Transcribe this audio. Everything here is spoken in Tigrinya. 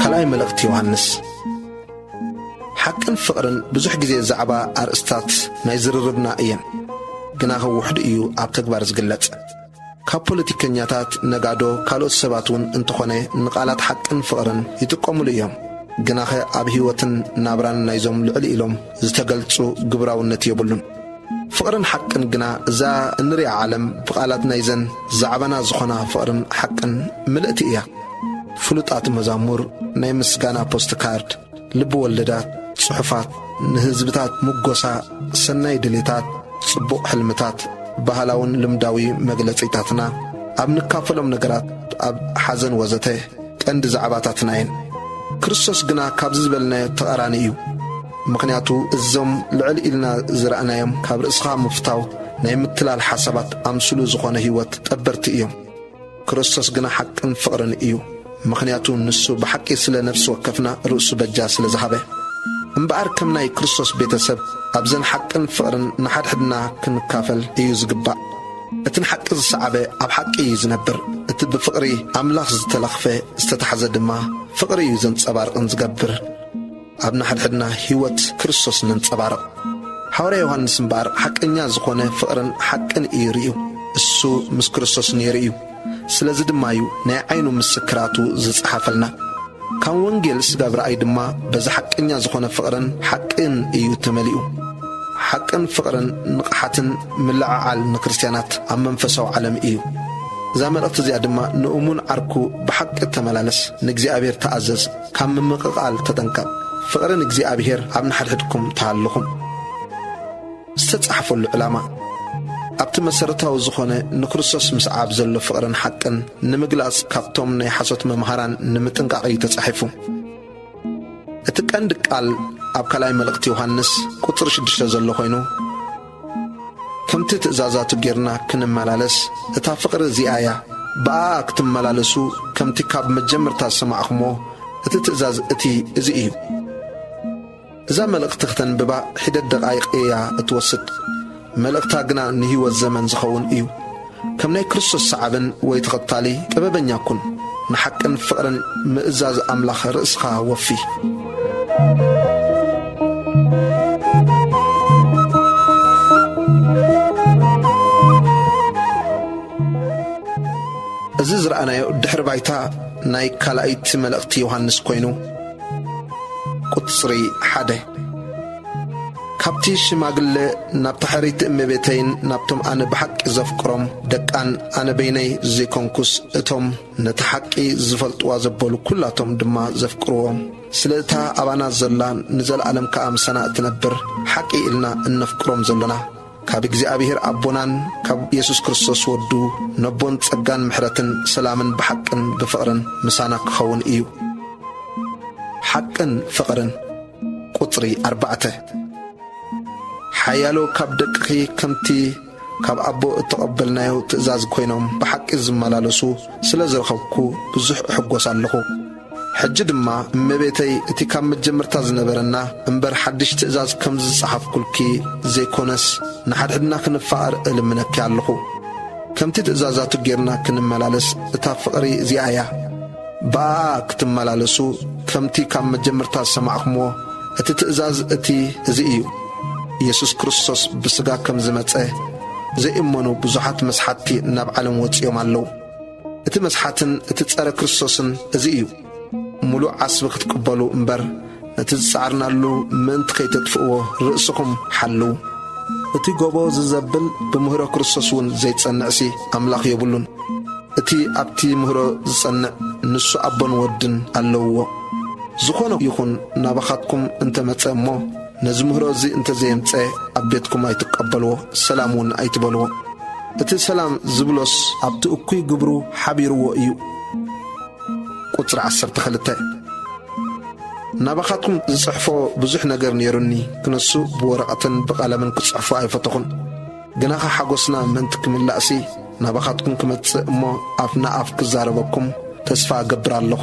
ካልኣይ መልእኽቲ ዮሃንስ ሓቅን ፍቕርን ብዙሕ ግዜ ዛዕባ ኣርእስታት ናይ ዝርርብና እየን፣ ግናኸ ውሑድ እዩ ኣብ ተግባር ዝግለጽ። ካብ ፖለቲከኛታት፣ ነጋዶ፣ ካልኦት ሰባት ውን እንተኾነ ንቃላት ሓቅን ፍቕርን ይጥቀሙሉ እዮም። ግናኸ ኣብ ህይወትን ናብራን ናይዞም ልዕል ኢሎም ዝተገልጹ ግብራውነት የብሉን። ፍቕርን ሓቅን ግና እዛ እንሪኣ ዓለም ብቃላት ናይዘን ዛዕባና ዝኾና ፍቕርን ሓቅን ምልእቲ እያ። ፍሉጣት መዛሙር ናይ ምስጋና ፖስትካርድ። ልቢ ወለዳት፣ ጽሑፋት፣ ንህዝብታት ምጎሳ፣ ሰናይ ድሌታት፣ ጽቡቕ ሕልምታት፣ ባህላውን ልምዳዊ መግለጺታትና፣ ኣብ ንካፈሎም ነገራት፣ ኣብ ሓዘን ወዘተ፣ ቀንዲ ዛዕባታትና እየን። ክርስቶስ ግና ካብዚ ዝበልናዮ ተቓራኒ እዩ። ምኽንያቱ እዞም ልዕል ኢልና ዝረኣናዮም ካብ ርእስኻ ምፍታው ናይ ምትላል ሓሳባት ኣምስሉ ዝኾነ ህይወት ጠበርቲ እዮም። ክርስቶስ ግና ሓቅን ፍቕርን እዩ፣ ምኽንያቱ ንሱ ብሓቂ ስለ ነፍሲ ወከፍና ርእሱ በጃ ስለ ዝሃበ። እምበኣር ከም ናይ ክርስቶስ ቤተ ሰብ ኣብዘን ሓቅን ፍቕርን ንሓድሕድና ክንካፈል እዩ ዝግባእ። እቲ ንሓቂ ዝሰዓበ ኣብ ሓቂ እዩ ዝነብር፣ እቲ ብፍቕሪ ኣምላኽ ዝተለኽፈ ዝተታሕዘ ድማ ፍቕሪ እዩ ዘንጸባርቕን ዝገብር። ኣብ ንሓድሕድና ሕይወት ክርስቶስ ነንጸባርቕ። ሓዋርያ ዮሓንስ እምበኣር ሓቀኛ ዝኾነ ፍቕርን ሓቅን እዩ ርእዩ። እሱ ምስ ክርስቶስ ነይሩ እዩ። ስለዚ ድማ እዩ ናይ ዓይኑ ምስክራቱ ዝጸሓፈልና። ካም ወንጌል ስጋብ ራእይ ድማ በዚ ሓቀኛ ዝኾነ ፍቕርን ሓቅን እዩ ተመሊኡ። ሓቅን ፍቕርን ንቕሓትን ምልዕዓል ንክርስትያናት ኣብ መንፈሳዊ ዓለም እዩ። እዛ መልእኽቲ እዚኣ ድማ ንእሙን ዓርኩ ብሓቂ ተመላለስ፣ ንእግዚኣብሔር ተኣዘዝ፣ ካብ ምምቕቓል ተጠንቀቕ። ፍቕሪ ንእግዚኣብሄር ኣብ ንሓድሕድኩም ተሃልኹም። ዝተጻሕፈሉ ዕላማ፣ ኣብቲ መሰረታዊ ዝኾነ ንክርስቶስ ምስዓብ ዘሎ ፍቕርን ሓቅን ንምግላጽ ካብቶም ናይ ሓሶት መምሃራን ንምጥንቃቕ እዩ ተጻሒፉ። እቲ ቀንዲ ቃል ኣብ ካልኣይ መልእኽቲ ዮሃንስ ቁጽሪ ሽዱሽተ ዘሎ ኮይኑ፣ ከምቲ ትእዛዛቱ ጌርና ክንመላለስ እታ ፍቕሪ እዚኣ እያ ብኣኣ ክትመላለሱ ከምቲ ካብ መጀመርታ ዝሰማዕኹሞ እቲ ትእዛዝ እቲ እዚ እዩ። እዛ መልእኽቲ ክተንብባ ሒደት ደቓይቕ እያ እትወስድ መልእኽታ ግና ንህይወት ዘመን ዝኸውን እዩ። ከም ናይ ክርስቶስ ሰዓብን ወይ ተኸታሊ ጥበበኛ ኩን። ንሓቅን ፍቕርን ምእዛዝ ኣምላኽ ርእስኻ ወፊ። እዚ ዝረኣናዮ ድሕሪ ባይታ ናይ ካልኣይቲ መልእኽቲ ዮሃንስ ኮይኑ ቁጽሪ ሓደ። ካብቲ ሽማግለ ናብታ ሕርይቲ እመቤተይን ናብቶም ኣነ ብሓቂ ዘፍቅሮም ደቃን ኣነ በይነይ ዘይኮንኩስ እቶም ነታ ሓቂ ዝፈልጥዋ ዘበሉ ኩላቶም ድማ ዘፍቅርዎ ስለ እታ ኣባና ዘላ ንዘለኣለም ከኣ ምሳና እትነብር ሓቂ ኢልና እነፍቅሮም ዘሎና ካብ እግዚኣብሔር ኣቦናን ካብ የሱስ ክርስቶስ ወዱ ነቦን ጸጋን ምሕረትን ሰላምን ብሓቅን ብፍቕርን ምሳና ክኸውን እዩ። ሓቅን ፍቕርን ቁጽሪ ኣርባዕተ ሓያሎ ካብ ደቅኺ ከምቲ ካብ ኣቦ እተቐበልናዮ ትእዛዝ ኮይኖም ብሓቂ ዝመላለሱ ስለ ዝረኸብኩ ብዙሕ እሕጐስ ኣለኹ። ሕጂ ድማ እመቤተይ እቲ ካብ መጀመርታ ዝነበረና እምበር ሓድሽ ትእዛዝ ከምዚ ዝጸሓፍኩልኪ ዘይኮነስ ንሓድሕድና ክንፋቐር እልምነኪ ኣለኹ። ከምቲ ትእዛዛቱ ጌርና ክንመላለስ እታ ፍቕሪ እዚኣ እያ። ብኣኣ ክትመላለሱ ከምቲ ካብ መጀመርታ ዝሰማዕክምዎ እቲ ትእዛዝ እቲ እዚ እዩ። ኢየሱስ ክርስቶስ ብሥጋ ከም ዝመጸ ዘይእመኑ ብዙሓት መስሓትቲ ናብ ዓለም ወጺኦም ኣለዉ። እቲ መስሓትን እቲ ጸረ ክርስቶስን እዚ እዩ። ምሉእ ዓስቢ ክትቅበሉ እምበር ነቲ ዝጸዓርናሉ ምእንቲ ከይተጥፍእዎ ርእስኹም ሓልው። እቲ ጎቦ ዝዘብል ብምህሮ ክርስቶስ እውን ዘይጸንዕሲ ኣምላኽ ዮብሉን። እቲ ኣብቲ ምህሮ ዝጸንዕ ንሱ ኣቦን ወድን ኣለውዎ። ዝኾነ ይኹን ናባኻትኩም እንተ መጸ እሞ፣ ነዚ ምህሮ እዚ እንተ ዘየምጸ ኣብ ቤትኩም ኣይትቀበልዎ ሰላም ውን ኣይትበልዎ እቲ ሰላም ዝብሎስ ኣብቲ እኩይ ግብሩ ሓቢርዎ እዩ ቁጽሪ ዓሰርተ ክልተ ናባኻትኩም ዝጽሕፎ ብዙሕ ነገር ኔሩኒ ክነሱ ብወረቐትን ብቐለምን ክጽሕፎ ኣይፈተኹን ግናኸ ሓጎስና ምእንቲ ክምላእሲ ናባኻትኩም ክመጽእ እሞ ኣፍ ንኣፍ ክዛረበኩም ተስፋ እገብር ኣለኹ።